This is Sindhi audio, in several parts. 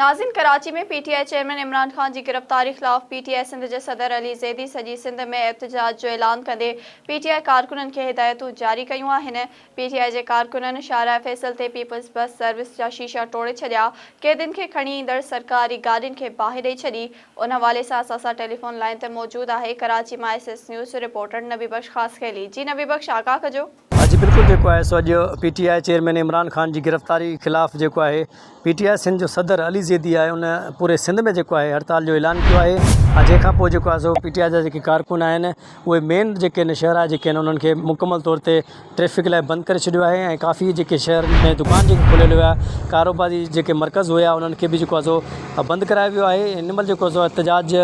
ناظرين Karachi ۾ P T I chairman Imran Khan جي گرفتاري خلاف پي ٽي آء سنڌ جي صدر علي زيدي سڄي سنڌ ۾ احتجاج جو اعلان ڪندي پي ٽي آء ڪارڪنن کي هدايتون جاري ڪيون آهن پي ٽي آء جي ڪارڪنن شاهراهه فيصل تي پيپلز بس سروس جا شيشا ٽوڙي ڇڏيا قيدين کي کڻي ايندڙ سرڪاري گاڏين کي باهه ڏئي ڇڏي ان حوالي سان اسان سان ٽيليفون لائين تي موجود آهي ڪراچي مان ايس ايس نيوز جو رپورٽر نبي بخش خاصخيلي جي نبي بخش آگاهه ڪجو. اڄ بلڪل جيڪو آهي سو اڄ P T I chairman Imran Khan جي گرفتاري خلاف جيڪو آهي پي ٽي آء سنڌ جو صدر علي زيدي آهي ان پوري سنڌ ۾ جيڪو آهي هڙتال جو اعلان ڪيو آهي ۽ جنهن کان پوء جيڪو آهي سو پي ٽي آء جا جيڪي ڪارڪن آهن اهي مين جيڪي آهن شهرا جيڪي آهن انهن کي مڪمل طور تي ٽريفڪ لاء بند ڪري ڇڏيو آهي ۽ ڪافي جيڪي شهر ۾ دڪان جيڪي کليل هيا ڪاروباري جيڪي مرڪز هيا انهن کي به جيڪو آهي سو بند ڪرايو ويو آهي هن مهل جيڪو آهي سو احتجاج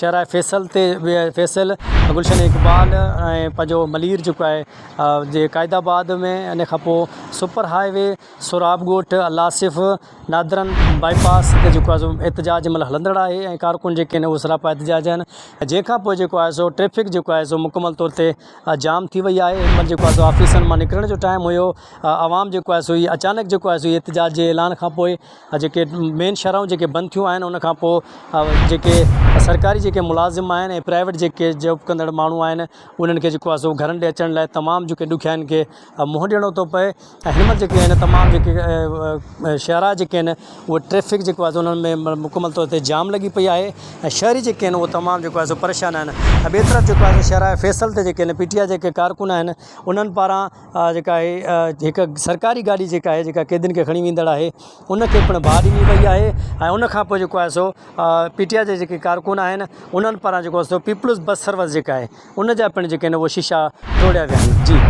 شهرائي فيصل تي فيصل گلشن اقبال ۽ پنهنجو ملير جيڪو آهي جي قائد آباد ۾ ان کان پوء super highway Sohrab Goth Al-Asif northern bypass تي جيڪو آهي احتجاج ملهه هلندڙ آهي ۽ ڪارڪن جيڪي آهن اهي سراپا احتجاج آهن جنهن کان پوء جيڪو آهي سو ٽريفڪ جيڪو آهي سو مڪمل طور تي جام ٿي وئي آهي هن مهل جيڪو آهي سو آفيسن مان نڪرڻ جو ٽائيم هيو عوام جيڪو آهي سو هي اچانڪ جيڪو آهي سو احتجاج جي اعلان کان پوء جيڪي مين شاھراھون جيڪي بند ٿيون آھن ان کان پوء جيڪي سرڪاري جيڪي ملازم آھن ۽ پرائيويٽ جيڪي جاب ڪندڙ ماڻھو آھن انھن کي جيڪو آھي سو گھرن ڏي اچڻ لاء تمام جيڪي ڏکيائين کي منھن ڏيڻو ٿو پئي ۽ ھن مھل جيڪي آھن تمام جيڪي شاھراھ جيڪي آھن اھو ٽريفڪ جيڪو آھي سو انھن ۾ مڪمل طور تي جام لڳي پئي آھي ۽ شھري جيڪي آھن اھو تمام جيڪو آھي سو پريشان آھن ۽ ٻئي طرف جيڪو آھي سو شاھراھ فيصل تي جيڪي آھن پي ٽي آء جيڪي ڪارڪن آھن انھن پاران جيڪا آهي هڪ سرڪاري گاڏي جيڪا آهي جيڪا قيدين کي کڻي ويندڙ آهي ان کي پڻ باهه ڏني وئي آهي ۽ ان کان پوء جيڪو آهي سو پي ٽي آء جا جيڪي ڪارڪن آهن انهن پاران جيڪو سو پيپلز بس سروس جيڪا آهي ان جا پڻ جيڪي آهن شيشا ٽوڙيا ويا آهن جي